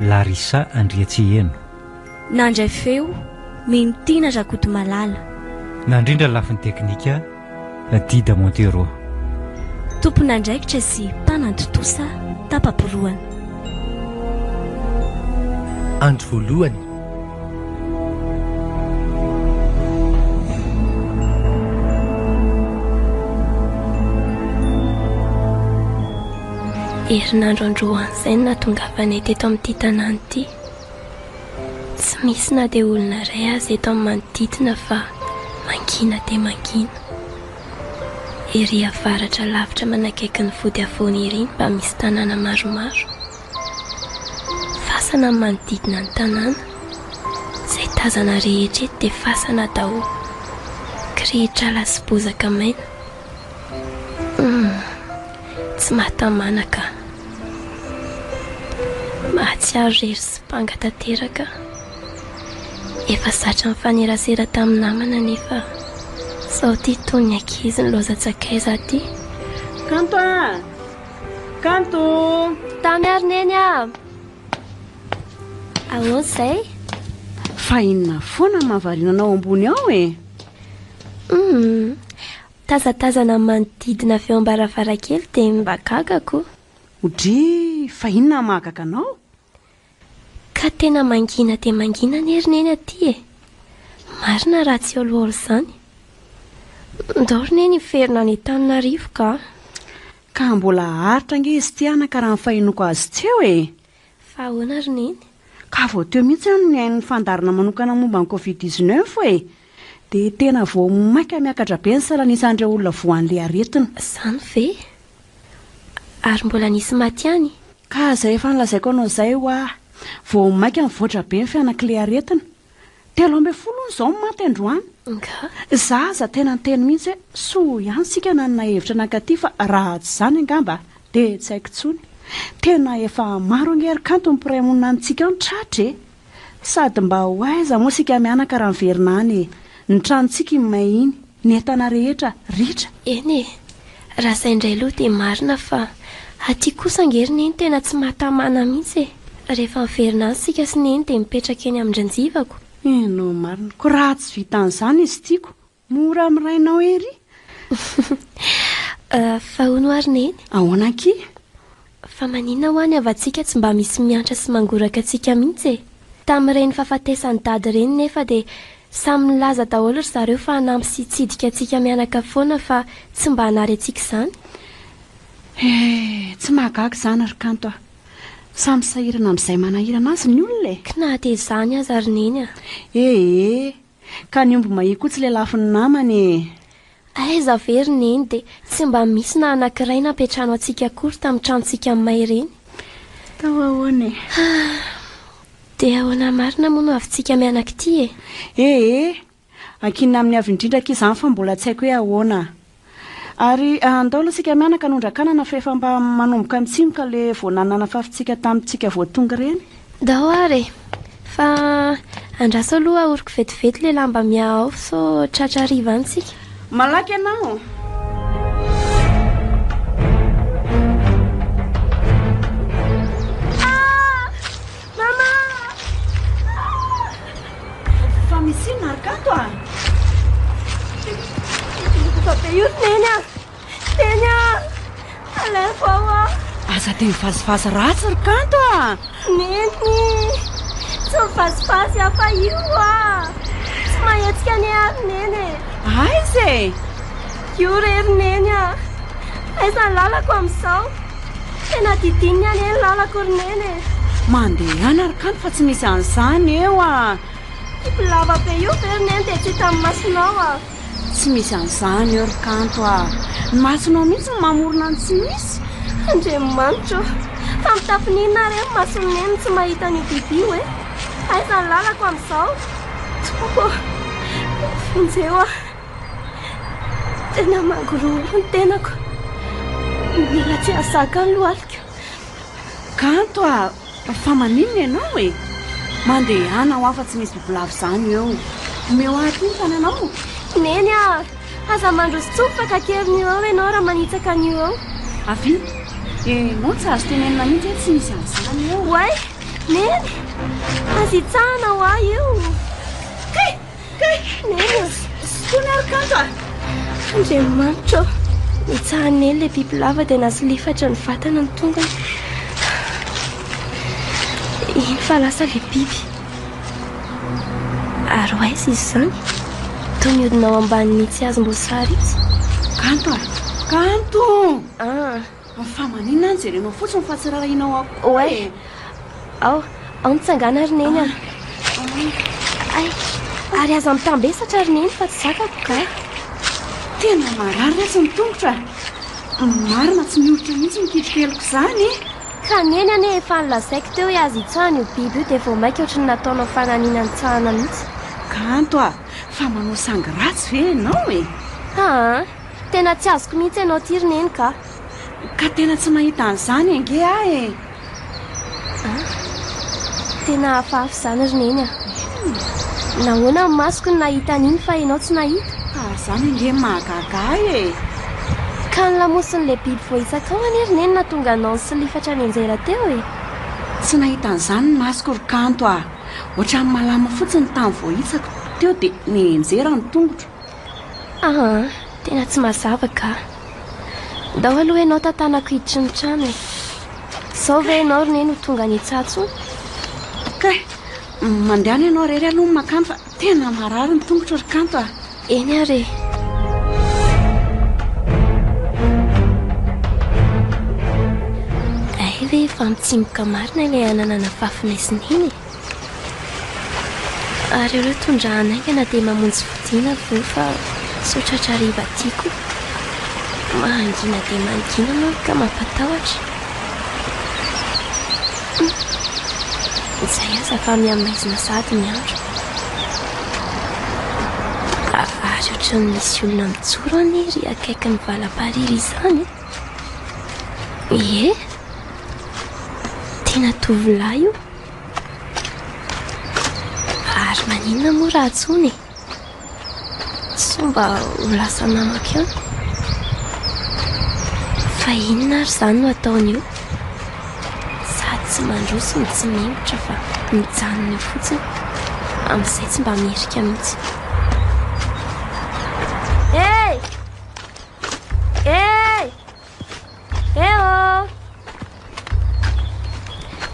Larissa Andriatseheno. Nandray feo, Mino Tiana Rakotomalala. Nandrindra ny lafiny teknika, Dida Montero. Tompon'andraikitra sy mpanantontosa tapa-porohana. Andro voalohany. Herinandro androan'izay no nahatongavanay teto amin'ity tanàna ity. Tsy misy na dia olona iray aza eto amin'ny manodidina fa mangina dia mangina. Ery avaratra lavitra manakaiky ny vodiavony ery ny mba misy tanàna maromaro. Fasana ny manodidina ny tanàna. Izay tazana rehetra eto dia fasana daholo. Kirihitr'ala sy bozaka maina. Humm. Tsy mahatamana ka. Mahatsiaro irery sy banga tanteraka aho. Efa zatra nifanerasera tamin'ny namana anefa sao tia toy ny ankizy ny loza tsakaiza aty. Kanto a! Kanto! Tamy ary neny a! Ahoana izay? Fa inona foana ny mahavariana anao ambony ao e? Hum, tazatazana ny manodidina avy eo am-baravarankely dia mba gaga koa. Odry, fa inona no mahagaga anao? Ka tena mangina dia mangina anie ry Neny aty e! Marina raha tsy olioly izany. Ndao ry Neny hiverina any Antananarivo ka. Ka mbola haharitra ange izy ity anaka raha ny fahenoako azy tsy eo e! Fa ahoana ry Neny? Ka vao teo mihitsy aho no nihaino ny fandaharana manokana momba ny Covid dix neuf e! Dia tena vao mainka miakatra be ny salan'isan'ireo olona voan'ilay aretina. Izany ve? Ary mbola nisy maty ihany? Ka izay efa nolazaiko anao izay hoa. Vao mainka nivoatra be ny fianaklearetina. Telo ambin'ny folo hono izao no maty androany. Nga? Izaho aza tena niteny mihitsy hoe soa ihany isika nanana hevitra nankaty fa raha tsy izany angamba dia tsy haiko intsony. Tena efa maro ange ry kanto ny mpiray monina amintsika ao ny tratra e! Sady mba ho aiza moa isika mianaka raha miverina any e! Ny tranontsika iny may iny, ny entana rehetra, ritra. Eny e! Raha izay indray aloha dia marina fa aty kosa ange ry neny tena tsy mahatamana mihitsy e! Rehefa miverina any isika sy neny dia mipetraka eny amin-dRanjivako. Eny no marina. Koa raha tsy vitan'izany izy tiako. Mora amin'ny rainao ery. Fa hono ary Neny? Ahoana anky? Fa maninona hoa ny havantsika tsy mba misy miantra sy mangoraka antsika mihitsy e? Tamin'ireny fahafatesan'i Dada ireny nefa dia samy nilaza daholo ry zareo fa hanampy sy hitsidika antsika mianaka foana fa tsy mba hanary antsika izany. Eh, tsy mahagaga izany ry Kanto a! Samy sahirana amin'izay manahirana azy ny olona e! Kna dia izany aza ry Neny a! Eh eh! Ka ny omby mahia koa tsy lelafin'ny namany ee. Aiza ve ry neny dia tsy mba misy na anankiray nampiantrano antsika akory tamin'ny tranontsika aminay ireny? Tao ahoana e? Dia ahoana marina moa no havintsika mianak'ity e? Ee, ankinina amin'ny avy indrindra akia izany fa mbola tsy haiko hoe ahoana. Ary andao aloha isika mianaka nondra-kanana fa efa mba manomboka mitsimoka le vao nananafafitsika tamintsika vao tonga ireny. Ndao ary e! Fa andraso aloha ahoriko vetivety le lamba miaha ao sao tratra hariva any tsika. Malaky ianao! Mama ah! Fa misy inona ary kanto ah? Fa be io Neny ah! Neny ah! Alain vao ah! Aza te mivazivazy ratsy ry kanto ah! Neny! Tsy mivazivazy ah fa io ah! Tsy mahetsika anie ary Neny e! Aiza e! Io re ry Neny ah! Aiza ny lalako amin'izao? Tena didininy anie ny lalako ry Neny e! Mandehana ry Kano fa tsy misy an'izany eo a! Io lava be io ve ry Neny dia tsy hitan'ny masonao a! Tsy misy an'izany eo ry Kanto a! Ny masonao mihitsy no mamorona ny tsy misy! Andriamanitra ô! Fa mitafy n'inona ary e ny mason'i Neny no tsy mahita an'io bibi io e! Aiza ny lalako amin'izao? Tompoko ô! Vonjeo aho! Tena mangorohoro ny tenako. Mila tsy hahazaka ny lohaliko. Kanto ah, fa maninona ianao e? Mandehana ho afa-tsy misy bibilava izany eo. Omeo ahy aty ny tananao. Neny ah, aza mandroso tsofaka kely ny eo ianao raha manitsaka ny eo. Avy, ianao tsy azo tenenina mihitsy hoe tsy misy an'izany eo. Oay, Neny, aza hitsahana ho ahy io. Kay! Neny ô! Foana ary kanto a! Andriamanitra ô! Nitsahan'ela ilay bibilava dia nasolifatra ny vatana ny tongony. Eny fa lasa ilay biby. Ary ho aiza izy izany? Toy ny hodina ao ambanin'itsy hazom-boasary itsy. Kanto a! Kanto! Ah! Ny famaninina any jereo anao fotsiny fa tsy rarahinao akory e. Oay. Ao, ao mitsangana ry neny a. Ay, ary aza mitambesatra ry neny fa tsy zakako ka. Tena marary retsy ny tongotra. Marina tsy mioritra mihitsy ny kitrokeliko izany e. Ka neny anie efa nolazaiko teo hoe aza itsahana io biby io dia vao maika ohatry ny nataonao fananina nitsahana mihitsy. Kanto a, fa manao sangy ratsy ve ianao e. Haa. Tena tsy azoko mihitsy ianao ity ry Neny ka. Ka tena tsy mahita an'izany ange aho e! Ah, tena hafahafa izany ry Neny a! Nahoana ny masoko no nahita an'iny fa ianao tsy nahita? Ka izany ange no mahagaga ahy e! Ka ny lamosin'ilay biby voahitsakao anie ry Neny nahatonga anao nisilifatra nianjera teo e! Tsy nahita an'izany ny masoko ry Kanto a! Ohatran'ny malama fotsiny ny tany voahitsako teo dia nianjera ny tongotro. Aa! tena tsy mazava ka! Ndao aloha ianao tantanako hiditry ny trano e! Zao ve ianao ry neny ho tonga any Itsatso? Kay! mandehana ianao irery aloha ny mankany fa tena marary ny tongotro ry Kanto a! Eny ary e! Hay ve efa mitsimoka marina ilay anana nafafinay sy neny e! Ary ireo tondrahana haingana dia mamonjy fodiana vo fa sao tratra hariva aty koa. Mangina dia mangina manko ka mampatahotra. Humm. Izay aza fa miha maizina sahady ny andro. Raha vary ohatran'ny misy olona mijoro anie ery akaikin'ny valapariry izany e. Ie. Tena tovolahy io. Ary maninona moa raha tsony e? Sao mba ho lasa namako eo? Fa inona ary izany no ataony io? Sady tsy mandroso no tsy memotra fa mijanona eo fotsiny. Amin'izay tsy mba mihirika mihitsy. Hey! Hey! Eo!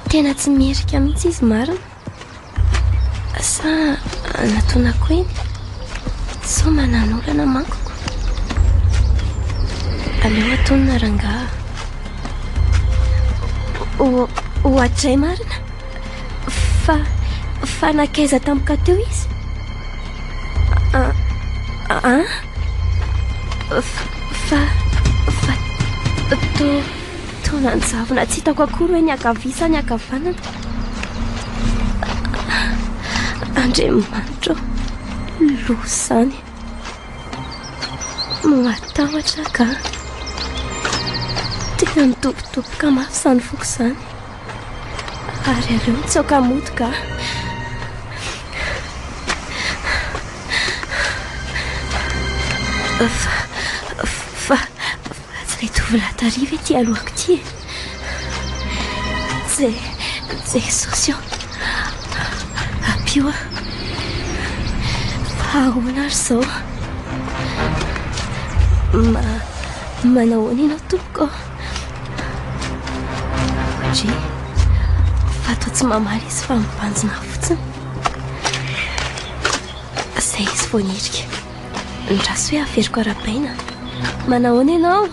Tena tsy mierika mihitsy izy marina. Sa anatonako eny? Sao mananolana manko ko. Aleo atonina rangaha. Ohatray marina. Fa fa nakaiza tampoka teo izy? Ah? Fa... fa... toa... toa nanjavona tsy hitako akory hoe ny ankavia sa ny ankavanana. Andriamanitra loha izany. Matahotra ka. Tena mitobitoboka mafy izany foko izany. Ary aleo mitsaoka motoka ah. Fa, fa, fa tsy ilay tovolahy tary ve ity alohako ity e? Je, Jesosy ô, ampio aho. Ahoana ary izao? Ma, manahoana ianao tompoko? Dry, fa toa tsy mamaly izy fa mibanjina fotsiny. Izay izy vao nirika. Ny raso hoe averiko arabaina. Manahoana ianao?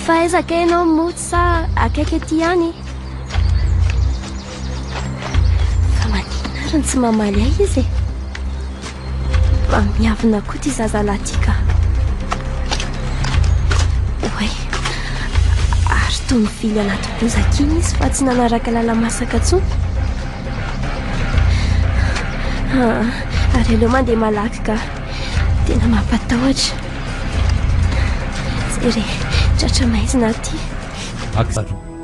Fa aiza kay ianao moa sa akaiky aty ihany? Fa maninona ary no tsy mamaly ahy izy e? Fa miavona koa ity zazalahy ity ka. Oay, ary toa nivily anaty bozaka iny izy fa tsy nanaraka lala-masaka intsony. Ah, ary aleo mandeha malaky ka. Tena mampatahotra. Jerry, tratra maizina aty. Aksa. Fa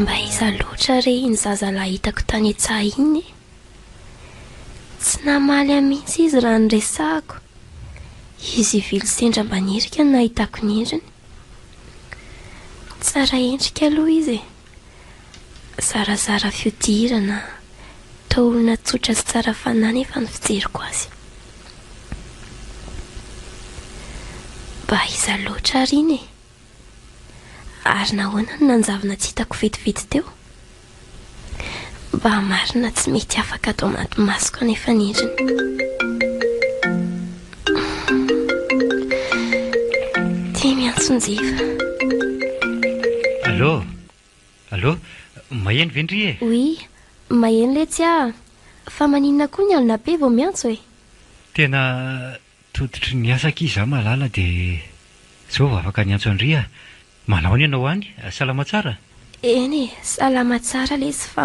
mba iza loatra re iny zazalahy hitako tany an-tsaha iny e? Tsy namaly ahy mihitsy izy raha niresahako. Izy ivily sendra mba nirika no nahitako niriny. Tsara endrika aloha izy e! Zarazara fihodirana, toa olona tsotra sy tsara fanahy nefa ny fijeriko azy. Mba iza loatra ary iny e? Ary nahoana no nanjavona tsy hitako vetivety teo? Mba marina tsy mety afaka ato anaty masoko anefa ny endriny. Ity miantso njifa. Allô? Allô? Maheno ve ndry e? Oui, maheno letsy ah! Fa maninona koa ny alina be vao miantso e? Tena tototry ny asa akia izaho malala dia izao vao afaka niantso an-dry ah! Manao any ianao any? Salama tsara? Eny e, salama tsara letsy fa.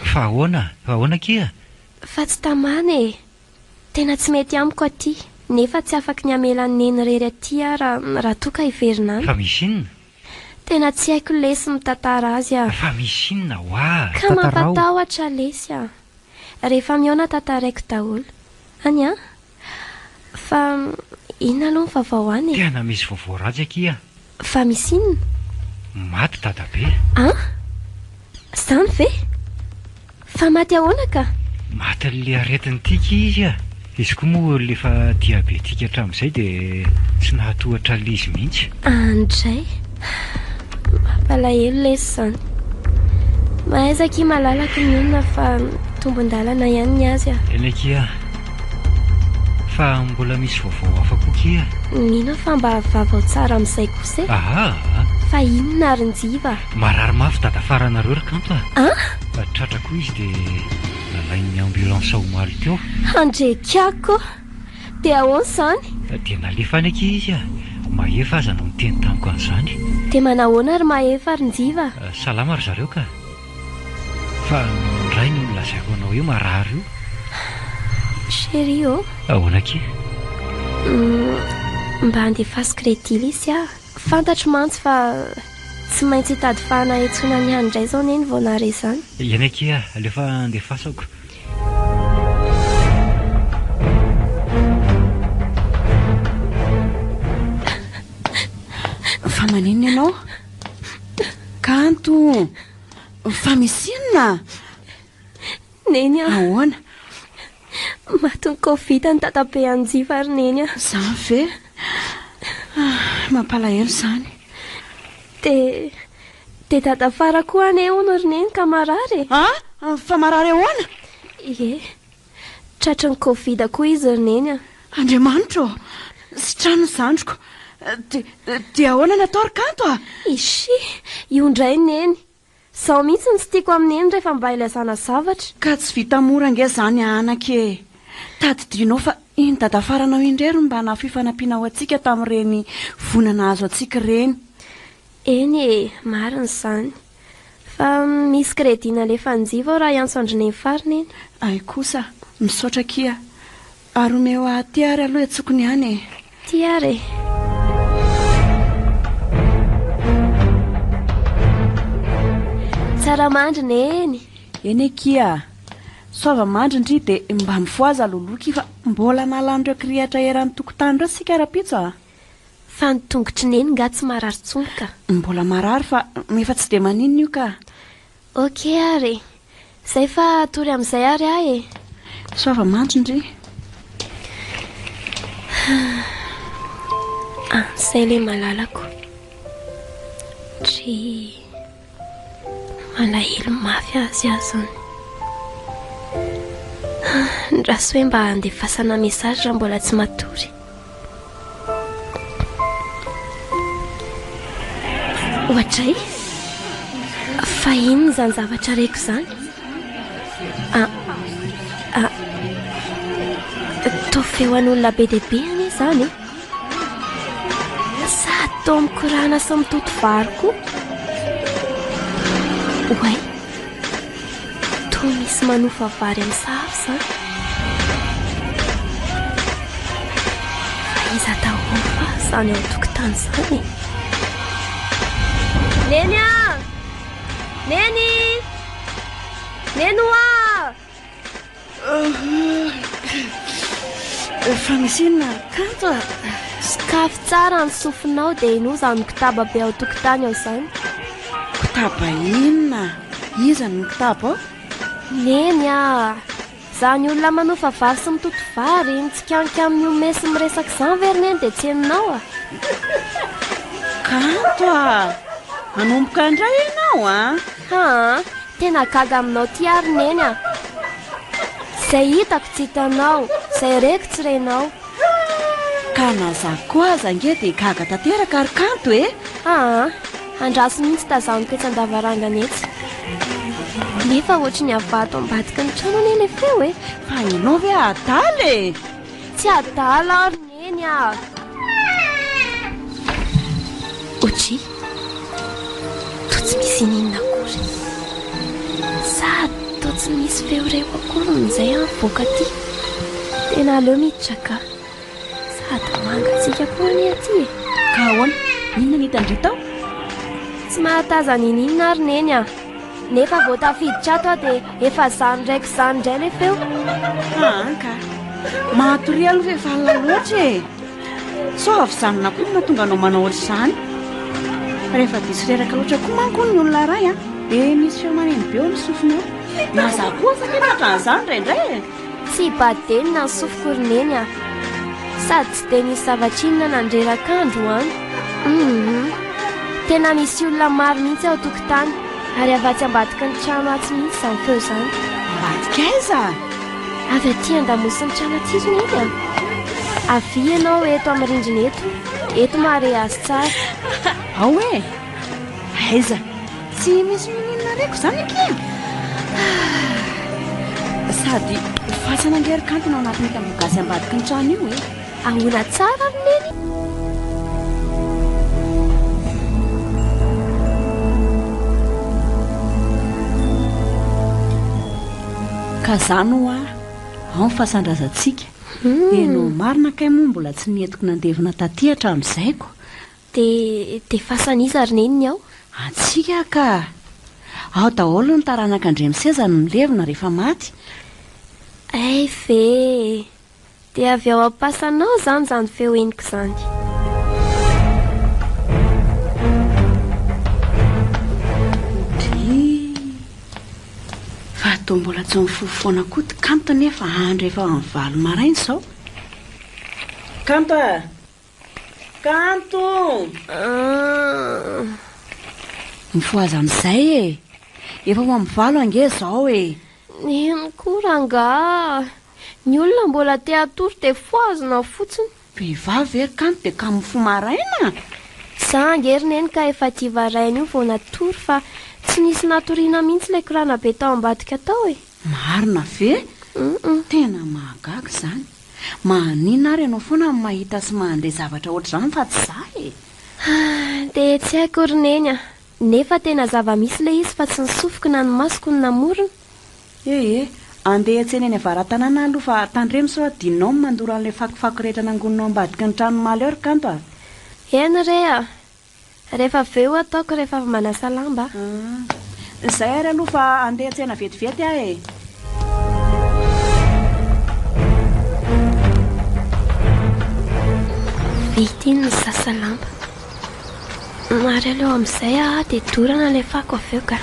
Fa ahoana? Fa ahoana akia? Fa tsy tamana e! Tena tsy mety amiko aty, nefa tsy afaky ny hamela an'i Neny irery aty aho ra, raha toa ka hiverina any. Fa misy inona? Tena tsy haiko lesy mitantara azy a. Fa misy inona ho'a? Ka mampatahotra lesy a. Rehefa mihaona tantaraiko daholo. Any an? Fa inona aloha ny vaovao any e? Tena misy vaovao ratsy akia. Fa misy inona? Maty dadabe. Ah? Zany ve? Fa maty ahoana ka? Matin'le aretin'ny tika izy ah. Izy koa moa lefa diabetika hatramin'izay dia tsy nahatohatra l'izy mihitsy. Andray. Mampalahelo lesy zany. Mahaiza akia malalaky ny olona fa tombon-dalana ihany ny azy ah. Eny akia. Fa mbola misy vaovao hafa koa kia? Mino aho fa mba vaovao tsara amin'izay kosa e. Aha! Fa inona ary ny jiva? Marary mafy dadafaranareo ry kanto a! An? Fa tratra koa izy dia nalain'ny ambulance omaly teo. Handrekako ô! Dia ahoana izany? Dia nalefa any akia izy a! Mahefa aza no niteny tamiko an'izany. Dia manahoana ry Mahefa ry njiva? Salama ry zareo ka! Fa indray no nolazaiko anao io marary io. Chérie ô. Ahoana akia? Mba andefasiko ilay dilisy aho. Fantatro mantsy fa tsy maintsy hitady fahana hitsona ny hany indray izao Neny vao nahare izany. Eny akia, aleo fa andefasako. Fa maninona ianao? Kanto! Fa misy inona? Neny a! Ahoana? Matin'ny Covid an'i Dadabe hanjifa ry Neny a! Izany ve? Mampalahelo izany. Dia dia Dada Fara koa anie hono ry Neny ka marary e! A! Fa marary ahoana? Ie. Tratry ny covid koa izy ry neny a! Andriamanitra ô! Sitrano ny zandriko! Dia dia ahoana ny atao ry kanto a? Ishi! Io indray neny! Izao mihitsy ny tsy tiako amin'i neny rehefa mba ilazana zavatra. Ka tsy vita mora ange izany a anaka e! Tadidianao fa iny dadafaranao iny irery no mba nafoy fanampiana ho antsika tamin'ireny voina nahazo antsika ireny. Eny e! Marina izany. Fa misy crédit nalefan'Jiva ao raha hiantso an-dry Neny farany iny. Ay kosa, misaotra akia. Ary omeo ahy aty ary aloha etsoko ny any e. Ty ary e. Tsara mandry Neny. Eny akia. Soava mandry ndry dia mba mifohaza loloky fa mbola nalan'ireo kirihitra eran'ny tokontany ireo sika rahampitso a. Fa ny tongotry neny nga tsy marary tsony ka. Mbola marary fa efa tsy dia maninona io ka. Ok ary e. Zay fa hatory amizay ary aho e. Soava mandry ndry. Ah, zay le malalako. Ndry. Malahelo mafy azy aho zany. Ndraso hoe mba andefasana message raha mbola tsy matory. Ohatray? Fa inona izany zavatra reko izany? Ah, ah, toa feon'olona be dia be anie izany e. Sady toa mikorana sy mitoto vary koa. Oay, toa misy manofa vary amin'ny sahafo izany. Iza daholo fa izany ao tokotany izany e? Neny ah! Neny! Neny hoa! Efa misy inona ry kanto a? Sokafy tsara ny sofinao dia henoy izany kotaba be ao tokotany ao izany. Kotaba inona? Iza no kotaba ao? Neny a! Izany olona manofa vary sy mitoto vary, mitsikanky amin'ny ome sy miresaka izany ve ry neny dia tsy henonao a? Kanto a! Manomboka indray ianao a! Haa tena gaga aminao ty ary neny a! Zay hitako tsy hitanao, zay reko tsy renao. Ka na za koa aza ange dia gaga tanteraka ary kanto e! Haa andraso mihitsy tazaniko etsy an-davarangana etsy. Nefa ohatry ny avy ato ambadiky ny trano anie ilay feo e! Fa ianao ve adala e! Tsy adala aho ry neny. Eny ah! Oji, toa tsy misy ininona akory. Sady toa tsy misy feo reko akory amin'izay aho mivoaka aty. Tena aleo miditra ka. Sady mangatsiaka koa anie aty e. Ka ahoana? Inona no hitan'i Rita ao? Tsy mahatazana ininona ary Neny ah. Nefa vao tafiditra ato aho dia efa zany raiko zany indray ilay feo. Haan ka. Mahatoria aloha fa efa alina loatra e. Sao avy izany na koa no mahatonga anao manao ohatr'izany. Rehefa diso reraka loatra koa manko hono ny olona iray an, dia misy feo maneno be ao amin'ny sofina ao. Na za koa aza mety ohatran'izany indraindray e. Tsy Baden na sofiko ry Neny a! Sady tsy dia nisy zavatra inona nandreraka andro an! Hum! Tena misy olona maro mihitsy ao an-tokotany ary avy atsy ambadiky ny trano atsy mihitsy izany feo izany. Ambadiky aiza? Avy aty an-damosin'ny trano aty ry Neny a! Avia ianao eto amin'ny rindrina eto, eto mahareha azy tsara. Ao e! Aiza? Tsy misy mininona reko zany akia. Ah, sady fasana ngery kanto no anatin'ny tamboho gasy ambadiky ny trano io e. Ahoana tsara ry neny? ka zany ho ahy ao ny fasan-drazantsika hmm. enao marina kay moa mbola tsy nietiko nandevina taty hatramin'izay ko Dia defasan'iza ry Neny ny ao? Antsika ka! Ao daholo ny taranak'Andriamiseza no milevina rehefa maty. Hay ve! Dia avy ao am-pasanao izany izany feo henoko izany. Fa toa mbola tsy mifoha foana koa ity Kanto nefa andro efa amin'ny valo maraina izao. Kanto a! Kanto! Mifohaza amin'izay e! Efa ho amin'ny valo ange izao e! Neny koa rangaha! Ny olona mbola te hatory dia fohazina fotsiny! Vehivavy ve ry Kanto dia kamo mifoha maraina? Za ange ry Neny ka efa aty varahina io vao natory fa tsy nisy natoriana mihitsy ilay korana be tao ambadika tao e! Marina ve? Tena mahagaga izany. Maninona ary ianao foana no mahita sy mandre zavatra ohatr'izany fa tsy za e? Dia tsy hay akory Neny a! Nefa tena zava-misy ilay izy fa tsy ny sofiko na ny masoko no namorona. Ee, andeha hiantsena eny Avaratanàna aloha fa tandremo sao adinonao ny mandoro an'ilay fakofako rehetra nangononao ambadiky ny tranon'i Malheur kanto a! Eny re a! Rehefa avy eo ataoko rehefa avy manasa lamba aho. Izay ary aloha fa handeha tsena vetivety aho e. Vita iny misasa lamba. Ary aleo amin'izay aho dia dorana ilay fako avy eo ka.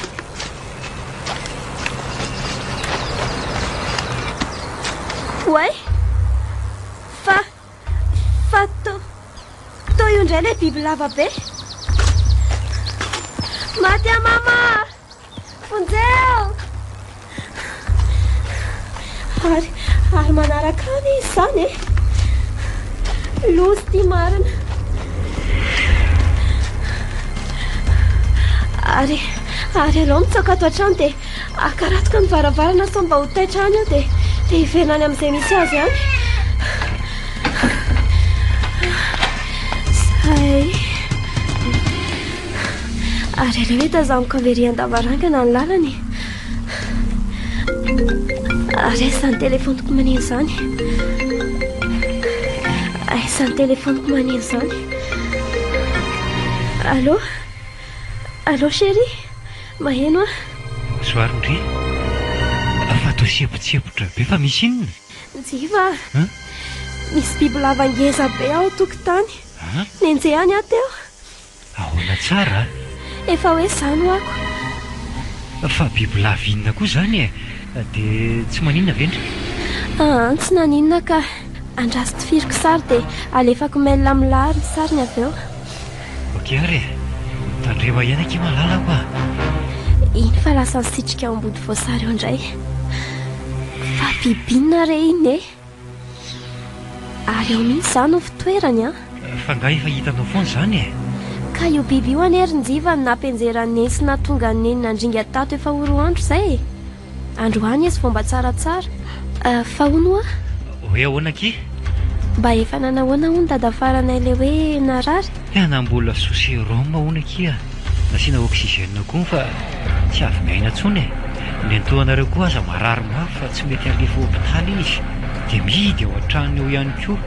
Oay! Fa Fa to, to io indray ilay biby lava be. Maty a mama! Vonjeo! Ary, ary manaraka any izy izany e. Lozy ity marina. Ary, ary alao mitsoaka ato an-trano dia Akaratiko amin'ny varavarana sao mba ho taitra any aho dia dia hiverina any amin'izay misy azy any. Zay. Ary aleo hoe tazaniko amin'ny very an-davarangana ny lalany. Ary aiza ny telefoniko maneho izany? Aiza ny telefoniko maneho izany? Allô Allô chérie Maheno aho. Bonsoir ndry. Fa toa siepotsepotra be fa misy inona? Njiva a! Misy bibilava ngeza be ao an-tokotany. Nenjehany aho teo. Ahoana tsara a! Efa hoe izany ho'ako. Fa bibilava inona koa izany e? Dia tsy maninona ve ndry? Aa tsy naninona ka. Andraso tifiriko sary dia alefako mail amin'ny lahary ny sariny avy eo. Ok ary e! Tandremo ahiana akia malalako a! Eny fa lasa nisitrika ao ambody voasary ao indray. Fa bibina re iny e! Ary ao mihitsy izany no fitoerany an! Fa nga efa hitanao foana izany e! Ka io biby io anie ry Njiva no nampianjeran'i Neny sy nahatonga an'i Neny nandringa tato efa ho roa andro izay e! Androany izy vao mba tsaratsara. Ah, fa hono hoa? Hoe ahoana akia? Mba efa nanahoana hono dada faranay ilay hoe narary? He na mbola sous sérum hono akia, nasiana oxygène koa fa tsy avy miaina intsony e! Nentohanareo koa aza marary mafy fa tsy mety alefa hopitaly izy dia mihidy ao an-tranony ao ihany koa.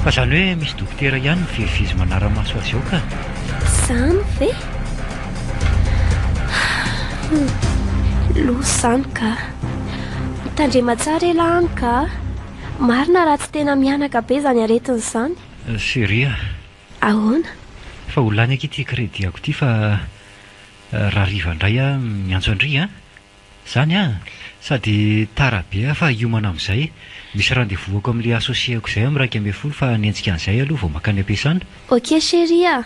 Fa izany hoe misy dokotera ihany mivezivezy manara-maso azy ao ka. Izany ve? Loza izany ka. Mitandrema tsara elah any ka. Marina raha tsy tena mihanaka be izany aretina izany. Chérie a. Ahoana? Fa ho lany akia ity crédit-ako ity fa raha hariva indray aho miantso an-dry an! Izany an! Sady tara be aho fa hiomana amin'izay. Misy rendez-vous-ako amin'ilay associé-ko izay amin'ny iraika ambin'ny folo fa ny entsikany izay aloha vao mankany am-piasana. Ok chérie a.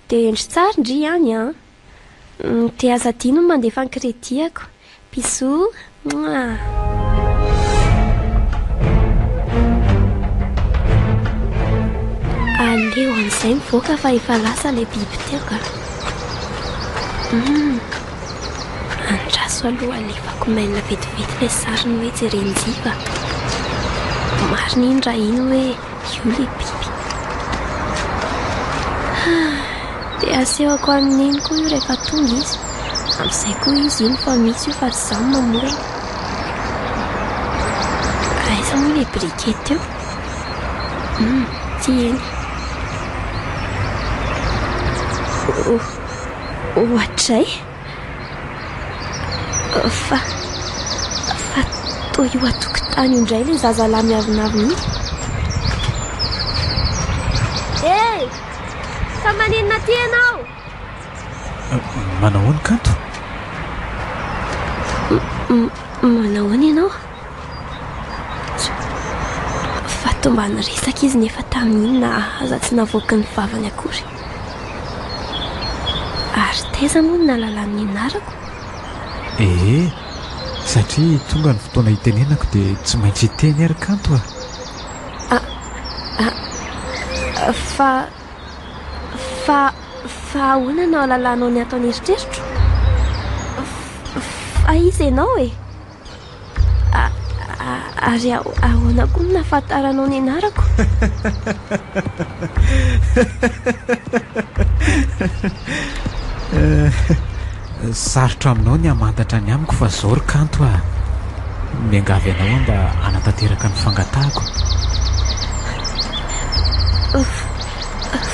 Dia hendry tsara ndry ihany an! Umm dia aza adino ny mandefa ny credit-ako. Bisous! Mouah! Aleo amin'izay mivoaka fa efa lasa ilay biby teo ka! Umm! Andraso aloha alefako mail vetivety ilay sariny hoe jeren'i Jiva. Marina iny raha iny hoe. Io le biby. Dia asehoko an'i Neny koa io rehefa tonga izy. Amin'izay koa izy iny fa misy io fa tsy izaho mamorona. Aiza moa ilay biriky teo? Hmm, tsy eny. Oh, ohatray. Fa... fa toa io an-tokotany io indray ilay zazalahy miavonavona io. Hey! Fa maninona aty ianao? Manahoana kanto? Manahoana ianao? Fa tombany resaka izy nefa tamin'iny nahaza tsy navoaky ny vavany akory. Ary taiza moa ny nalalany ny anarako? Ee, satria tonga ny fotoana hitenenako dia tsy maintsy hiteny ary kanto a! A, a, a, fa, fa, fa ahoana no hahalalanao ny ato an'eritreritro? Fa, fa iza ianao e? Ary ahoana koa no nahafantaranao ny anarako? Sarotra aminao ny hamantatra ny amiko fa izao ry kanto a! Miangavy anao aho mba hanatanteraka ny fangatahako.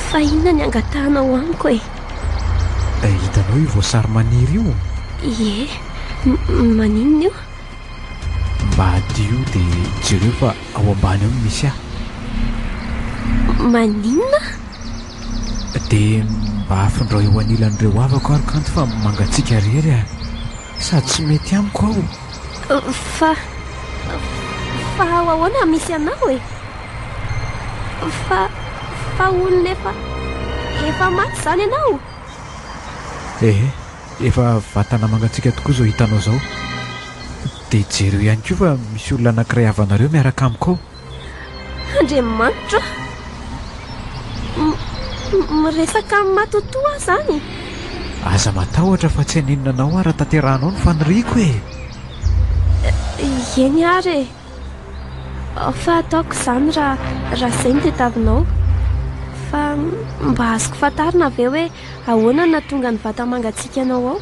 Fa inona ny angatahanao amiko e? Hitanao io voasary maniry io? Ie. Maninona io? Mba adio dia jereo fa ao ambany ao no misy ahy. Maninona? Dia mba afindrao eo anilan'ireo havako ary kanto fa mangatsiaka irery aho. Sady tsy mety amiko aho. Fa fa ao ahoana no misy anao e? Fa fa olona efa efa maty izany ianao? Ehe. Efa vatana mangatsiaka tokoa izao hitanao izao. Dia jereo ihany koa fa misy olona anankiray havanareo miaraka amiko ao. Andriamanitra! Miresaka amin'ny matotoa aho izany. Aza matahotra fa tsy hanenina anao aho raha tanterahanao ny faniriako e! Eny ary e! Fa ataoko izany raha izay no tadiavinao. Fa mba azoko fantarina ve hoe Ahoana no nahatonga ny vata mangatsiakanao ao?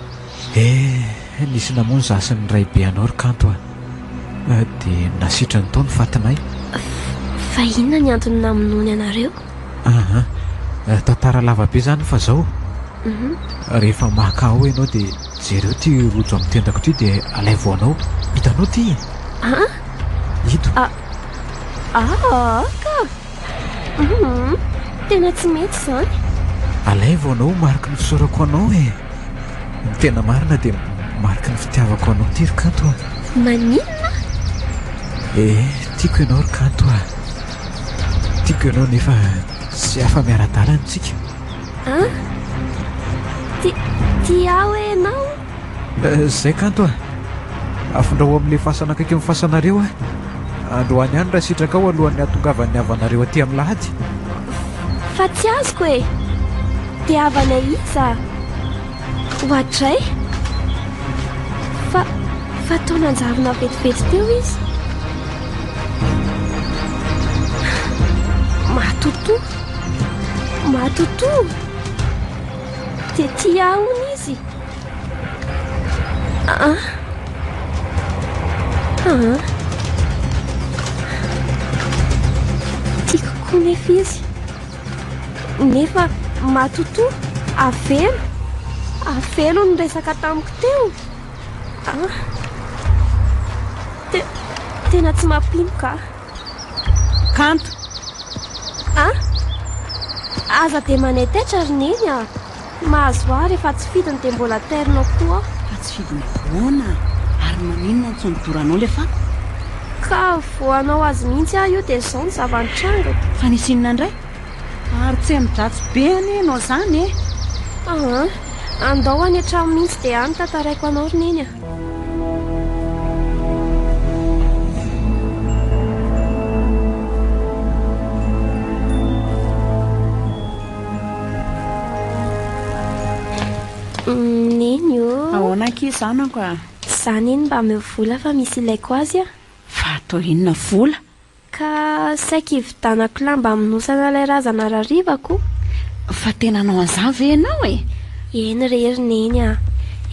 Eh, nisy namono izaho sy ny raibe anao ry Kanto a! Dia nasitrany tao ny fatinay. Fa, fa inona ny antony namonoany anareo? Aha, tantara lava be izany fa izao, rehefa maka ao ianao dia jereo ity rojo amin'ny tendako ity dia alaivo anao. Hitanao ity e? Aa? Ito. Aa, ka! Tena tsy mety izany. Alaivo anao ho mariky ny fisaorako anao e. Ny tena marina dia mariky ny fitiavako anao ity ry Kanto a. Maninona? Eh, tiako ianao ry Kanto a. Tiako ianao nefa tsy afa-miara-dalana isika. An? Ti- Tia aho ianao. Eh, zay kanto a! Afondraho amin'ilay fasana akaiky ny fasanareo a! Androany ihany raha sitrakao alohan'ny hatongavan'ny havanareo aty amin'ny lahady. Fa tsy azoko e! Dia havana iza? Oadray! Fa, fa tao nanjarina vetivety teo izy. Matoto! Matoto! Dia tia ahony izy! Tiako koa nefa izy Nefa matotoa Avelo Avelo ny resaka tamiko teo ah. Te, Tena tsy mampino ka Kanto Ah Aza dia manetaitrary neny ah Tsy mahazo ahy rehefa tsy fidiny dia mbola ternao koa aho. Fa tsy fidiny ahoana ary maninona ntsony doranao ilay fako? Ka vao hanao azy mihitsy aho io dia izao ny zava-nitranga. Fa nisy inona indray? Ary tsy amin-dratsy be anie ianao izany e! Aa, andao any an-trano mihitsy dia any tantaraiko anao ry Neny a! Neny ô! Ahoana ankizy zanako a? Za neny mba ameo vola fa misy ilaiko azy a! Fa atao inona vola? Ka saiky hividanako lamba hamonosana ilay razana rarivako. Fa tena hanao an'izany ve ianao e? Eny re ry Neny a!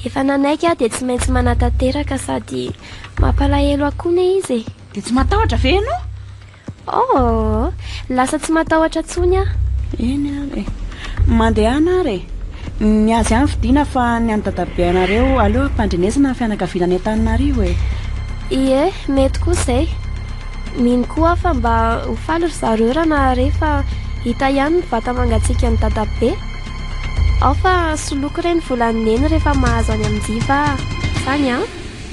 Efa nanaiky aho dia tsy maintsy manatanteraka sady mampalahelo ahy koa ne izy e! Dia tsy matahotra ve ianao? Oh! Lasa tsy matahotra intsony aho. Eny ary e! Mandehana ary e! Ny azy ihany vidiana fa ny an'i dadabe anareo aleo ampandrenesana ny fianakaviana any Antananarivo e! Ie, mety koa izay. Mino koa aho fa mba ho faly ry zareo raha naharey fa hita ihany ny vata mangatsiakan'i dadabe. Ao fa soloiko re ny volan'i neny rehefa mahazo any amin-jiva aho. Izany an!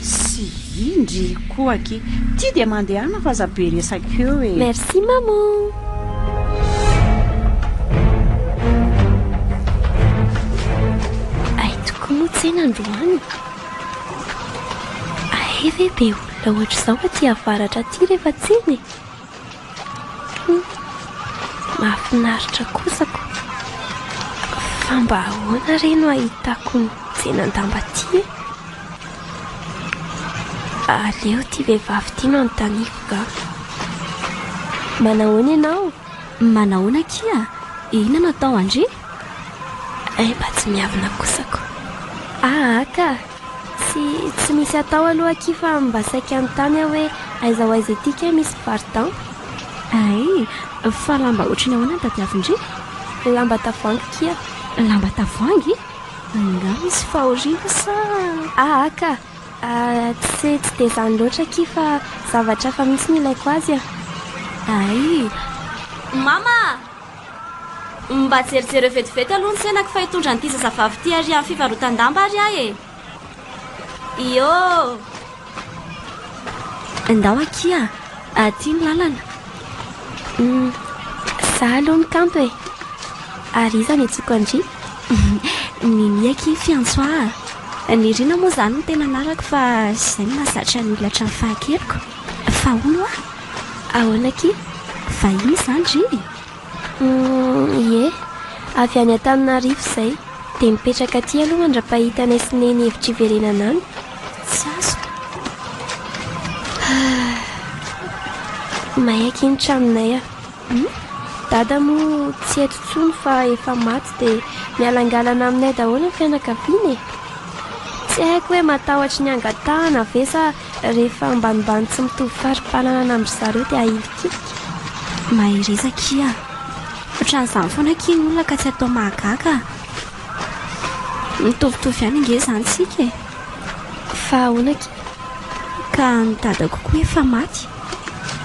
Sy indry koa aky. Ty dia mandehana fa aza be resaka eo e. Merci maman. tsena androany ahe ve be olona ohatr'izao aty avaratra aty rehefa tsena e Mahafinaritra kosa ko. Fa mba ahoana re no ahitako ny tsenan-damba ty e? Aleo ty vehivavy ty no anontaniako nga. Manahoana ianao? Manahoana akia? Inona no atao an-dry? Hay mba tsy miavona kosa ko. Aa ka! Tsy tsy misy atao aloha akia fa mba saika anontany aho hoe aiza ho aiza ity kay misy mpivarotan? Ay, fa lamba ohatry ny ahoana no tadiavin-dry? Lamba tavoahangy kia. Lamba tavoahangy? Angaha misy fahoriana sa? Aa ka! Tsy tsy dia izany loatra akia fa zavatra hafa mihitsy no ilaiko azy an! Ay! Mama! Mba jerijereo vetivety aloha ny tsenako fa hitondra an'ity zazavavy ity ary amin'ny fivarotan-damba ary aho e. Iô! Ndao akia, aty ny lalana. Hum, za aloha ny kanto e. Ary iza ny antsoiko an-dry? Nini akia Fiantsoa a. Nirina moa izany no tena anarako fa izay no mahazatra ny olona hatramin'ny fahakeliko. Fa hono hoa? Ahoana akia? Vahiny izany ry e? Humm, ie. Avy any Antananarivo izay. Dia mipetraka aty aloha mandra-pahita anay sy Neny hevitra hiverenana any. Tsy azoko. Ah. May akia ny tranonay a. Hum? Dada moa tsy eto intsony fa efa maty dia mialangalana aminay daholo ny fianakaviana e. Tsy haiko hoe matahotry ny angatahana ve sa Rehefa ambanimbany tsy mitovy fari-pananana amin-dry zareo dia ahilikilika. Mahereza akia. Ohatran'izany foana akia ny olona ka tsy atao mahagaga. Mitovitovy ihany ange izany isika e. Fa ahoana akia? Ka ny dadako koa efa maty.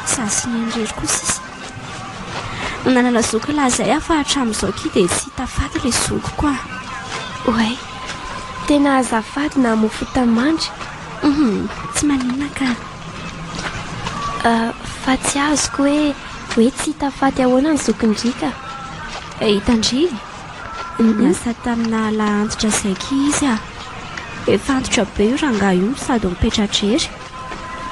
Izaho sy neny irery koa sisa. Nanana zoky lahazay aho fa hatramin'izao akia dia tsy hita faty ilay zokiko a. Oay. Tena azafady namoy fota mandry. Tsy maninona ka. Fa tsy azoko hoe hoe tsy hita faty ahoana ny zokin-driaka. Hitan-dry? Niasa tamina lahy antitra saika izy ah. Efa antitra be io rangahy io no sady mipetra-drery.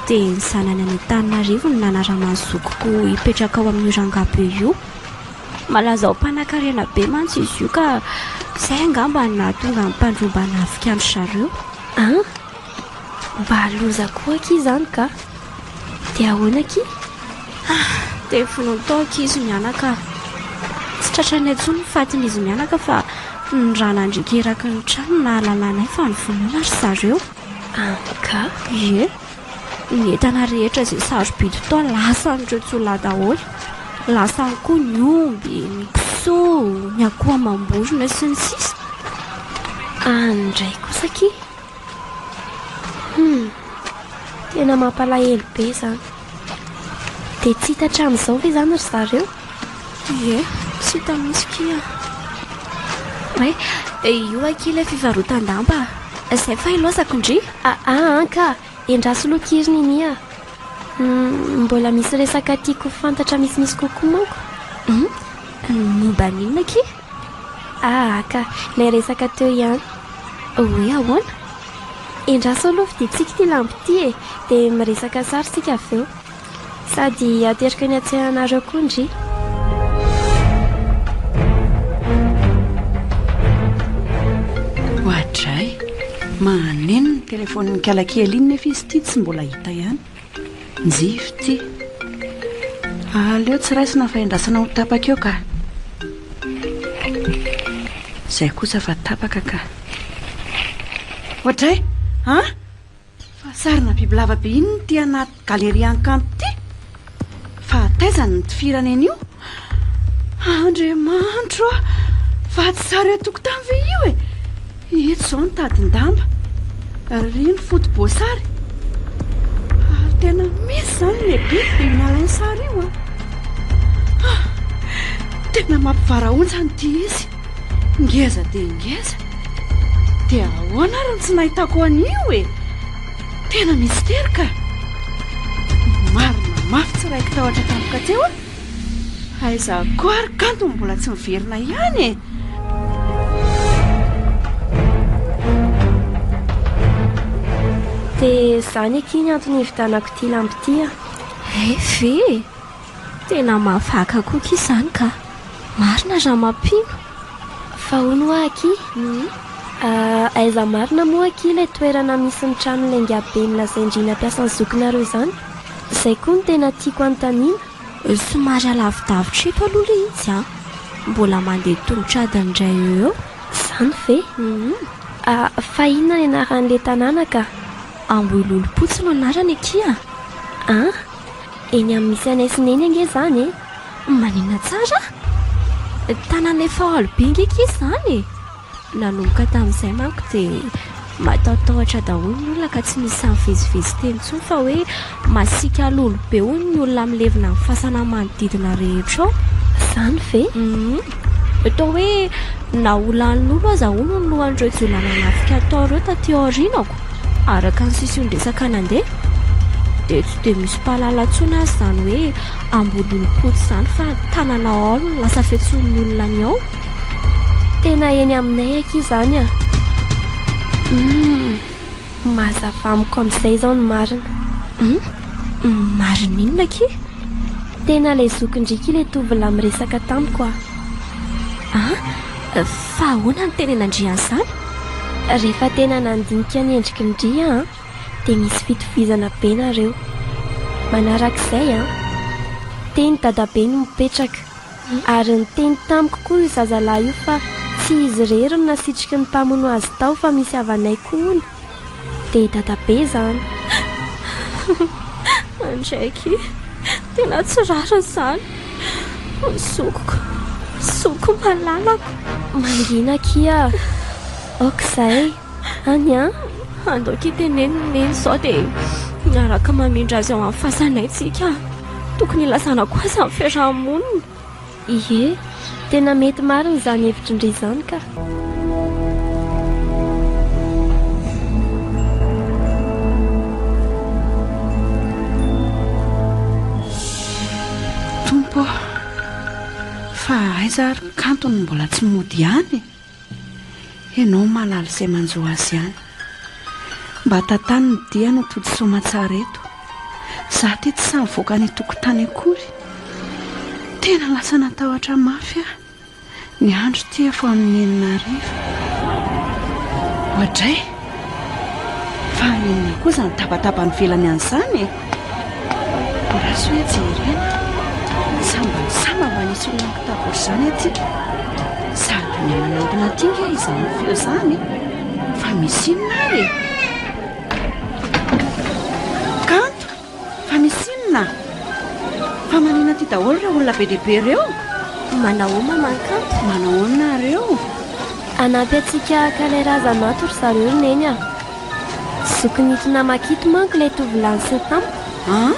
Dia ny zanany any Antananarivo no nanaraman'ny zokiko hipetraka ao amin'io rangahy be io. Malaza ho mpanakarena be mantsy izy io ka izay angamba no nahatonga ny mpandroba hanafika an-dry zareo. An! Mba loza koa akia izany ka! Dia ahoana akia? Ah! Dia vonoiny tao akia izy mianaka an! Tsy tratranay intsony ny fatin'izy mianaka fa ny ra nandriaka eraky ny trano no nahalalànay fa novonoina ry zareo. An ka! Ie! Ny entana rehetra izay sarobidy tao lasan'ireo jiolahy daholo. Lasany koa ny omby, ny kisoa, ny akoho amam-borona sy ny sisa. Any indray kosa akia. Hum, tena mampalahelo be izany. Dia tsy hita hatramin'izao ve izany ry zareo? Ie, tsy hita mihitsy akia an! Hoe, dia io akia ilay fivarotan-damba a! Izay fa hilaozako ndry! Aa an ka! Endraso aloha akia ry Nini a! Humm, mbola misy resaka tiako ho fantatra misimisy kokoa manko! Humm, momba ny inona akia? Aa ka! Ilay resaka teo ihany! Hoe ahoana? Endraso aloha vidiantsika ity lamba ity e! Dia miresaka sary isika avy eo! Sady ateriko ny hatsehanareo koa ndry. Oadray, mahaneno ny telefonin'ny kalakely iny nefa izy ity tsy mbola hita ihany. Njivy ity. Aleo tsy raisina fa endrasana ho tapaka eo ka. Izay kosa fa tapaka ka. Oadray, an? Fa sarina bibilava be inona ity anaty galerian-kanto ity? Fa taiza ny mitifirana eny io? Andriamanitro a! Vato zary an-tokotany ve io e? Eto izao ny tadin-damba. Ry ny foto-boasary. Ary tena misy izany ilay biby dia io nalainy sary io a! Tena mampivarahontsana ity izy. Ngeza dia ngeza. Dia ahoana ary ny tsy nahitako an'io e? Tena mistery ka. Marina mafy tsy raiko tahotra tampoka teo a. Aiza koa ary kanto mbola tsy miverina ihany e. Dia izany akia ny antony hividianako ity lampy ity a. Efe. Tena mavaka koa akia izany ka! Marina Ramampino! Fa hono hoa akia, aiza marina moa akia ilay toerana misy ny trano lainga be nolazain-dry nampiasan'ny zokinareo izany? Izay koa no tena tiako anontaniana. Somary alavidavitra eto aloha ilay izy an! Mbola mandeha tongotra adiny iray eo eo. Izany ve? Fa inona ny anaran'ilay tanàna ka? Ambohilolompotsy no anarany akia. Eny amin'ny misy anay sy neny ange izany e. Maninona tsara? Tanàna efa alo be nge kisa izany e. Nanomboka tamin'izay manko dia matahotahotra daholo ny olona ka tsy misy nivezivezy teny intsony fa hoe masiaka lolo be hono ny olona milevina ny fasana manodidina rehetra ao. Izany ve? Toa hoe naholan'ny lolo aza hono ny lohan'ireo jiolahy nanafika tao ireo taty aoriana. Araka ny sesion-dresaka nandeha dia tsy dia misy mpahalala intsony aza izany hoe Ambohidolopotsy izany fa tanana ao no lasa fiantsoan'ny olona ny ao. Tena eny aminay akia izany a! Humm! Mazava amiko amin'izay izao ny marina. Humm! Marina inona akia? Tena ilay zokin-driaka ilay tovolahy miresaka tamiko a! An? Fa ahoana no tena nandrian'izany? Rehefa tena nandinika ny endriky ny ria an, dia misy fitovizana be nareo. Manarak'izay an, teny dadabe no mipetraka, ary niteny tamiko koa io zazalahy io fa tsy izy irery no nasitriky ny mpamono azy tao fa misy havanay koa hono. dia i Dadabe izany. Andraiky, tena tsy rariny izany. Zokiko, zokiko malalako. Mangina akia, ok izay, any an. Andao akia teneno ny neny sao dia miaraka mamindra azy ao amin'ny fasanay tsika. Tokony hilazana koa aza ny fiaraha-monina. Ie, tena mety marina izany hevitry ndry izany ka. aiza ary ny kantony mbola tsy mody ihany e? Enao malala izay manjo azy ihany. Mba tantano ny diany ho tody soamatsara eto. Za ity tsy sahy mivoaka any an-tokotany akory. Tena lasa natahotra mafy aho. Ny andro ity efa amin'ny enina hariva. Oadray! Fa inona koa izany tabataba nivelany an'izany e? Rasoa hoe jerena, sambany samba mba hisy olona mitady ohatr'izany aty. Sarobidy manantona aty ange izany feo izany fa misy inona ary e? Kanto, Fa misy inona? Fa manina aty daholo ireo olona be dia be ireo? Manao ma mankanto? Manahoana nareo? Hanampy antsika haka ilay razana ato ry zareo ry Neny a! Zokin'ito namako ito manko ilay tovolahy niseho tamiko. An?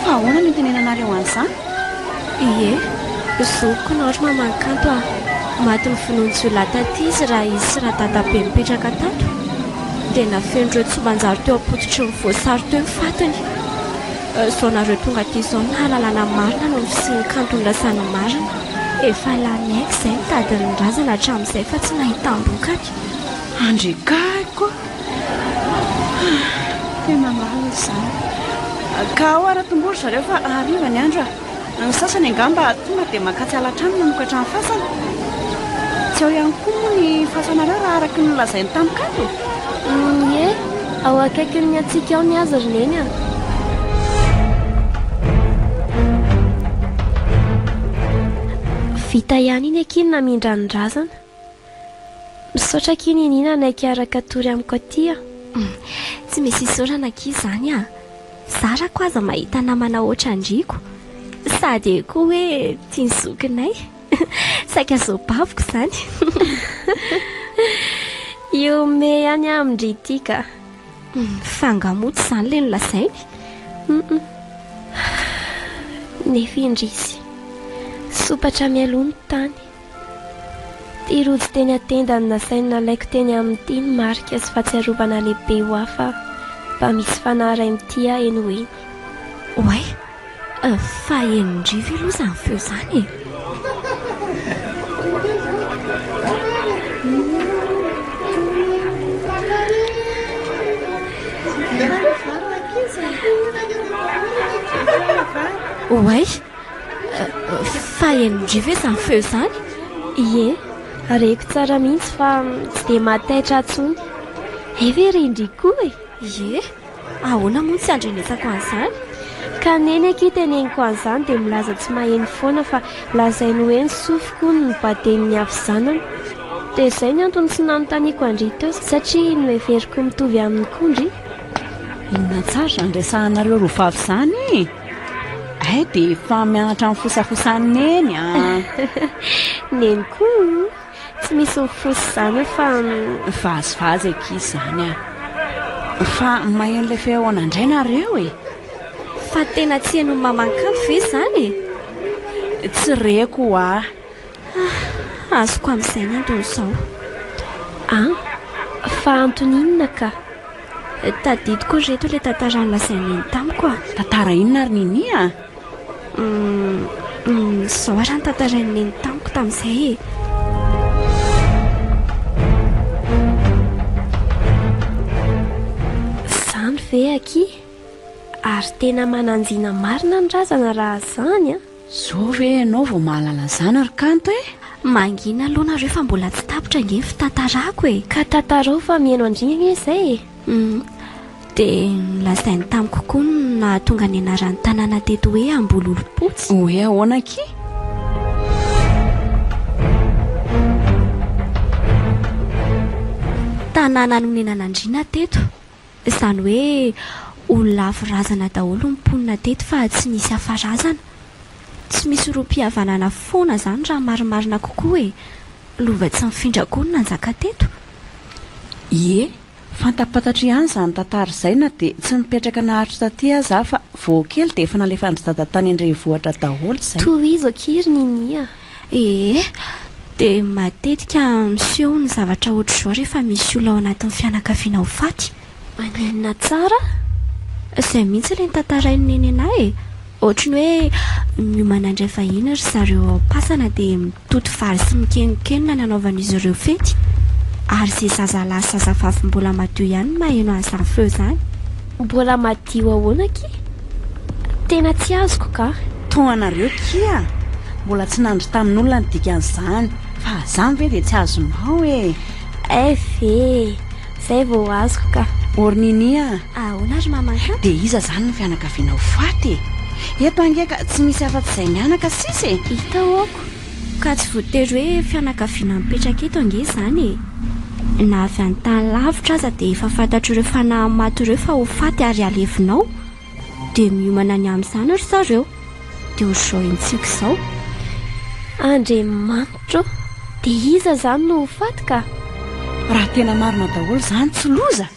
Fa ahoana no itenenanareo an'izany? Ie, zokiko nao ry mamankanto a! Maty novonoin'ny jiolahy taty izy raha izy sy radadabe nipetraka tato. dia nafen'ireo tsy manjary teo am-pototry ny voasary teo ny fatiny. Izao nareo tonga aty izao no hahalalana ny marina noho ny fisian'ny kanto nirasa ny marina. Efa lany aika izay ny tadin'ny razana hatramin'izay fa tsy nahitam-bokany. Andriakaiko a! Tena lalina izany. Ka ao ary atombory zareo fa hariva ny andro a! Ny sasany angamba tonga dia mankatsiahy hatrany mamokatra ny fasana. Tsy ao ihany koa moa ny fasanareo raha araka ny nolazainy tamiko ato? Ie, ao akaikin'ny antsika ao ny azy ry Neny a! Vita ihany iny akia ny namindran'ny razana. Misaotra akia Nini nanaiky hiaraka tory amiko aty a. Tsy misy isaorana akia izany a. Zara ko aza mahita namana hoatra an-driako. Sady e koa hoe tia ny zokinay. Saika zo baviko izany. Ihomehy ihany aho amin-dry ity ka. Fa angaha moa tsy izany ilay nolazainy? Nefa indrisy. Sompatra mialoha ny tany. Ity rojo teny an-tenda no nasainy nalaiko teny amin'ity ny marika sy fahatsiarovana lehibe ho ahy fa mba misy fanahy iray mitia ahy eny ho eny. Oay! Fa enin-dry ve aloha izany feo izany e? Oay! Fa henondria ve izany feo izany? Ie, reko tsara mihitsy fa tsy dia mahataitra intsony. Hay ve re indry koa e! Ie, ahoana moa ny tsy andrenesako an'izany? Ka neny akia teneniko an'izany dia milaza tsy maheno foana fa lazainy hoe ny sofiko hono no baden'ny havizanana. Dia izay ny antony tsy nanontaniako an-dry teo satria noheveriko mitovy aminy koa ndry. Inona tsara izany resahana lolovav izany? Hay dia efa mianatra mifosafosa ny neny a! Neny koa tsy misy mifosa izany io fa. Vazivazy akia izany a! Fa maheno ilay feona indray nareo e! Fa tena tsy henon'i Mamankanto ve izany e? Tsy reko ho'a! Hah! Azoko amin'izay ny antony izao. An! Fa antony inona ka? Tadidiko ry reto ilay tantara nolazain'i Neny tamiko a! Tantara inona ry Neny a? Hum! Izao ary ny tantarain'i Neny tamiko tamin'izay e! Izany ve akia? Ary tena mananjina marina ny razana raha izany a! Zao ve ianao vao mahalala an'izany ry Kanto e? Mangina aloha nareo fa mbola tsy tapitra ange ny fitantarako e! Ka tantarao fa mihaino an-dry ange izay e! Humm. Dia nolazainy tamiko koa ny nahatonga ny anaran'ny tanàna teto hoe Ambololompotsy. Hoe ahoana akia? Tanàna nonenan' andriana teto. Izany hoe olona lavo razana daholo ny mponina teto fa tsy nisy hafa razana. Tsy misy rohim-pihavanana foana izany raha marimarina kokoa e! Lova tsy mifindra koa no nanjaka teto. Ie, fantampatatra ihany izany tantara izay na dia tsy nipetraka naharitra taty aza aho fa vao kely dia efa nalefan-dry dada tany an-drenivohitra daholo izay. Tohizo akia ry Ninia Ee, dia matetika miseho ny zavatra ohatr'izao rehefa misy olona ao anatin'ny fianakaviana ho faty. Maninona tsara? Izay mihitsy ilay notantarain'i Nenena e! Ohatry ny hoe miomana handray vahiny ry zareo ao am-pasana dia mitoto vary sy mikeninkenina ny anaovan'izy ireo fety. Ary izay zazalahy sy zazavavy mbola madio ihany no maheno an'izany feo izany. Mbola madio ahoana akia? Tena tsy azoko ka. Toa anareo kia mbola tsy nandry tamin'olona ny dikan'izany fa azany ve dia tsy azonao e! Eff e! Zay vao azoko ka. Or Nini a! Ahoana ry mamanka? Dia iza izany ny fianakavianao faty e! Eto ange ka tsy misy afa-tsy izay mianaka sisa e! Hita ôko! Ka tsy voatery hoe fianakaviana mipetraka eto ange izany e! Na avy any tany lavitra aza dia efa fantatr'ireo fanahy maty ireo fa ho faty ary halevina ao. Dia miomana ny amin'izany ry zareo. Dia ohatr'izao hentsiko izao. Andriamanitra ô! Dia iza izany no ho faty ka? Raha tena marina daholo izany, tsy loza!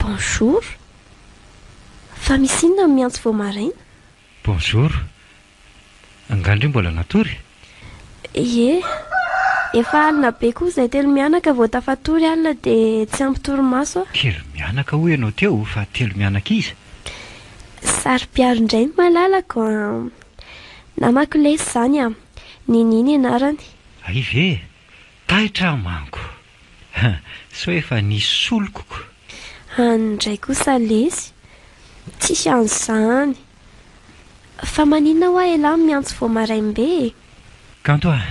Bonjour. Fa misy inona ny miantso vao maraina? Bonjour. Angaha ndry mbola natory? Ie. Efa alina be koa izay telo mianaka vao tafatory alina dia tsy ampy torimaso a! Telo mianaka hoy ianao teo fa telo mianaka iza? Saro-piaro indray ny malalako a! Namako lesy izany a! Nini ny anarany. Hay ve? Taitra aho manko. Ha! sao efa nisy solokoko. Any ndray kosa lesy tsy an'izany. Fa maninona hoa elah no miantso vao maraim-be e? Kanto ah!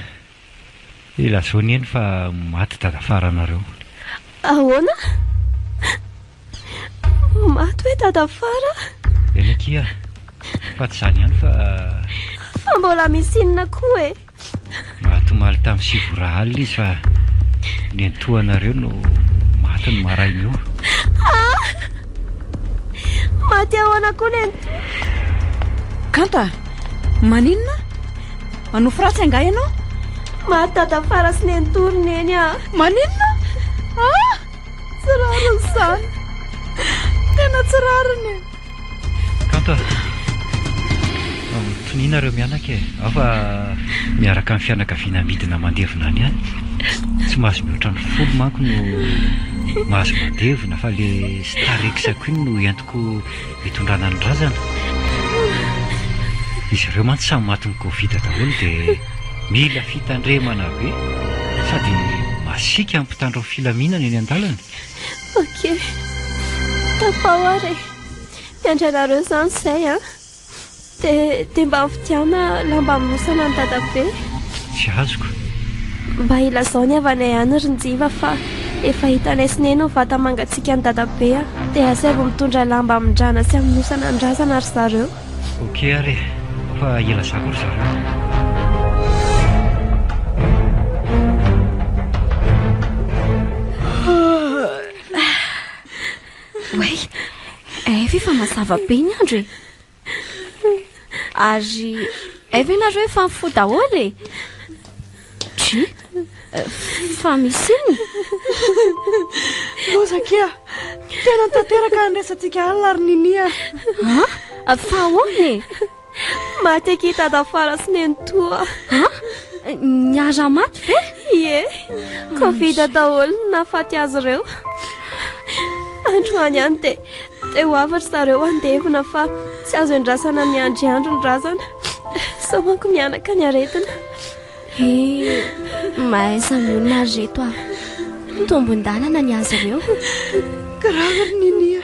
Ilazao anie ny fa maty dadafaranareo. Ahoana? Maty hoe dada fara. Eny aty ary. Fa tsy izany ihany fa. Fa mbola misy inona koa e. Maty omaly tamin'ny sivy ora alina izy fa nentohanareo no maty ny maraina io. Ah! Maty ahoana koa nentoha? Kanta, maninona? Manofy ratsy angaha ianao? Maty dada fara sy nentoha ry neny ah. Maninona? Ah! Tsy rariny izany. Tena tsy rariny e. Kanto ah. Toniana ireo mianaka e. Aho fa miaraka amin'ny fianakaviana midina mandevina any ihany. Tsy mahazo mihoatra ny folo manko no mahazo mandevina fa le Starex Queen no entiko Antoko hitondrana ny razana. Izy ireo mantsy samy matin'ny covid daholo dia mila fitandremana be sady masiaka ny mpitandro ny filaminana eny an-dalana. Ok. Tafaho ary e. Mpiantra ianareo izany izay an. Dia, dia mba vidiana lamba amonosana an'i Dadabe. Tsy azoko. Mba ilazao ny havanay any ry Njiva fa efa hitanay sy Neny ny vata mangatsiaka an'i Dadabe a! Dia asaivo mitondra lamba hamindrana sy hamonosana ny razana ry zareo. Ok ary e! Fa ilazako ry zareo a! Oay, eh ve fa mazava be ny andro e. Ary eh ve nareo efa mifoha daholo e. Try, eh, fa misy iny. Rozakia, tena tanteraka ny resantsika alina ary ninia. Ah, fa ahoana e? Maty aky tadafara sy nenitoa. Ha? Niara maty ve? Ie. Covid daholo ny nafaty azy ireo. Androany ihany dia dia ho avy ry zareo handevina fa tsy azo endrasana miandry andro ny razana. Sao manko mianaka ny aretina. He, mahaiza ny olona ry reto ah. Tombon-dalana ny azy ireo. Grave ry Ninia.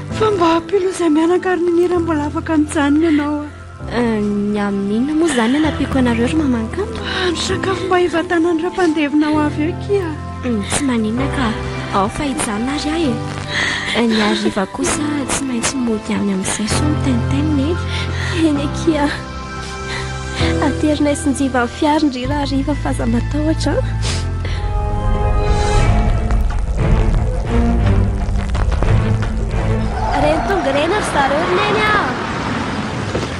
Fa mba ampilo izay mianaka ary ny mira mbola afaka mijanona ianao ah. Ny amin'inona moa izany anampiako anareo ry mamankanto? Ah, ny sakafo mba hivatanan'ireo mpandevina ho avy eo kia. Hmm, tsy maninona ka, ao fa hijanona ary ahy e. Ny hariva kosa tsy maintsy mody any amin'izay soa ny tenten e. Eny akia. Aterinay sy njiva ny fiary ndry rahariva f'aza matahotra an. Reny tonga reny ry zareo ry neny a.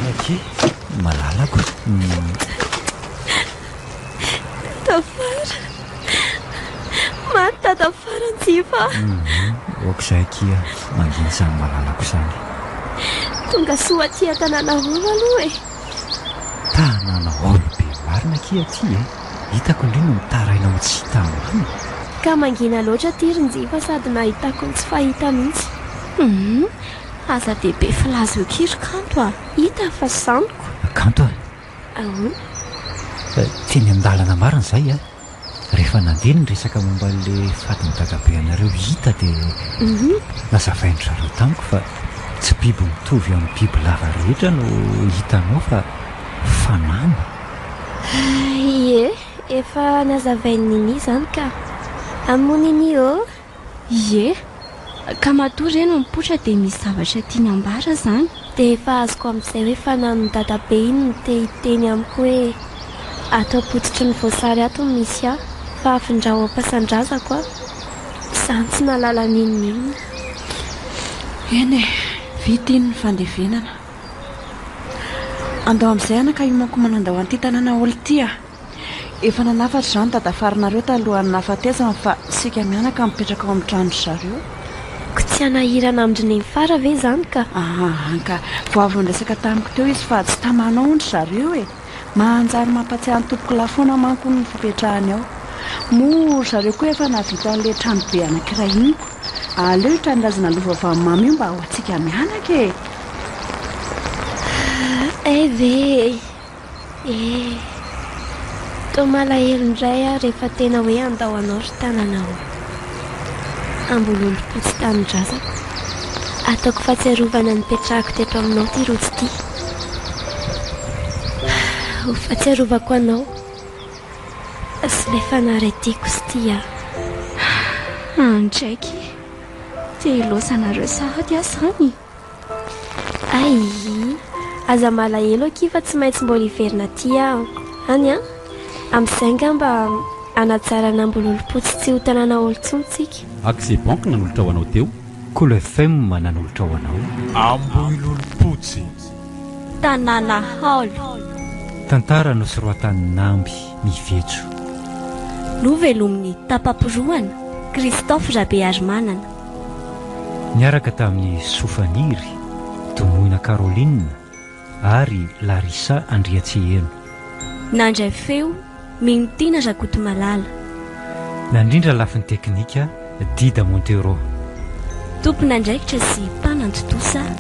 Mianakee, malalako. Tafara. Maty ta Tafara Njiva a. Humm aok'izay akia mangina izany malalako izany. Tonga soa aty an-tanàna hall aloha e. Tanàna hall be marina akia aty e. Hitako indray no mitaraina ho tsy hita ambany. Ka mangina loatra aty ry Njiva sady nahitako ny tsy fahita mihitsy. Humm aza dia be filaza eo akia ry Kanto a. Hita fa zaniko. Kanto a. Teny an-dalana marina izay a! Rehefa nandeha ny resaka momba an'ilay fatin'ny dadabe anareo hita dia nazavain-dry zareo tamiko fa tsy biby mitovy amin'ny bibilava rehetra no hitanao fa fanamby. Ie, efa nazavain'i Nini izany ka. Amin'i Nini ô, Ie. Ka matoa re no mipoitra dia misy zavatra tiany ambara izany. Dia efa azoko amin'izay hoe fananon'i dadabe iny no te hiteny amiko hoe ato am-pototry ny voasary ato no misy ahy fa afindrao am-pasan-drazako aho. Izany tsy nahalala n'inon'inona. Eny e. Vita iny ny fandevenana. Andao amin'izay anaka hiomankomana andao an'ity tanàna haolo ity a! Efa nanafatra izany dadafarinareo talohan'ny nahafatesany fa isika mianaka mipetraka ao amin'ny trano-dry zareo. Koa tsy hanahirana amin-dry neny Fara ve izany ka? Ahaha ka. Vao avy niresaka tamiko teo izy fa tsy tamanao hono ry zareo e! Manjary mampatsiahy ny tompokolahy foana manko hono ny fipetrahany ao. Moa ry zareo koa efa nahavita an'ilay tranobe anankiray iny koa. Aleo io tanindrazana lova vavimamy io mba ho antsika mianaka e! Hay ve e! Eeh. Toa malahelo indray aho rehefa tena hoe handao anao ry tanana ô. Ambolelim-po tsy tanindrazako. Ataoko fahatsiarovana nipetrahako teto aminao ity rojo ity. Ho fahatsiarovako anao sy ilay fanary tiako sy tia ahy. Andraiky! Te hilaosa anareo sahady aho izany. Aii. Aza malahelo akia fa tsy maintsy mbola hiverina aty aho any an! Amin'izay angamba hanatsara an'Ambololompotsy tsy ho tanàna haolo intsony tsika. Accès banque nanolotra ho anao teo. Cool FM nanolotra ho anao. Ambohilolompotsy. Tanàna haolo. Tantara nosoroatan'Amby Mivetso. Novelomin'i Tapamporohana Christophe Rabearimanana. Niaraka tamin'i Sofaniry Domoina Caroline ary Larissa Andriatseheno. Nandray feo, Minotiana Rakotomalala. Nandrindra lafiny teknika, Dida Montero. Tompon'andraikitra sy mpanantontosa,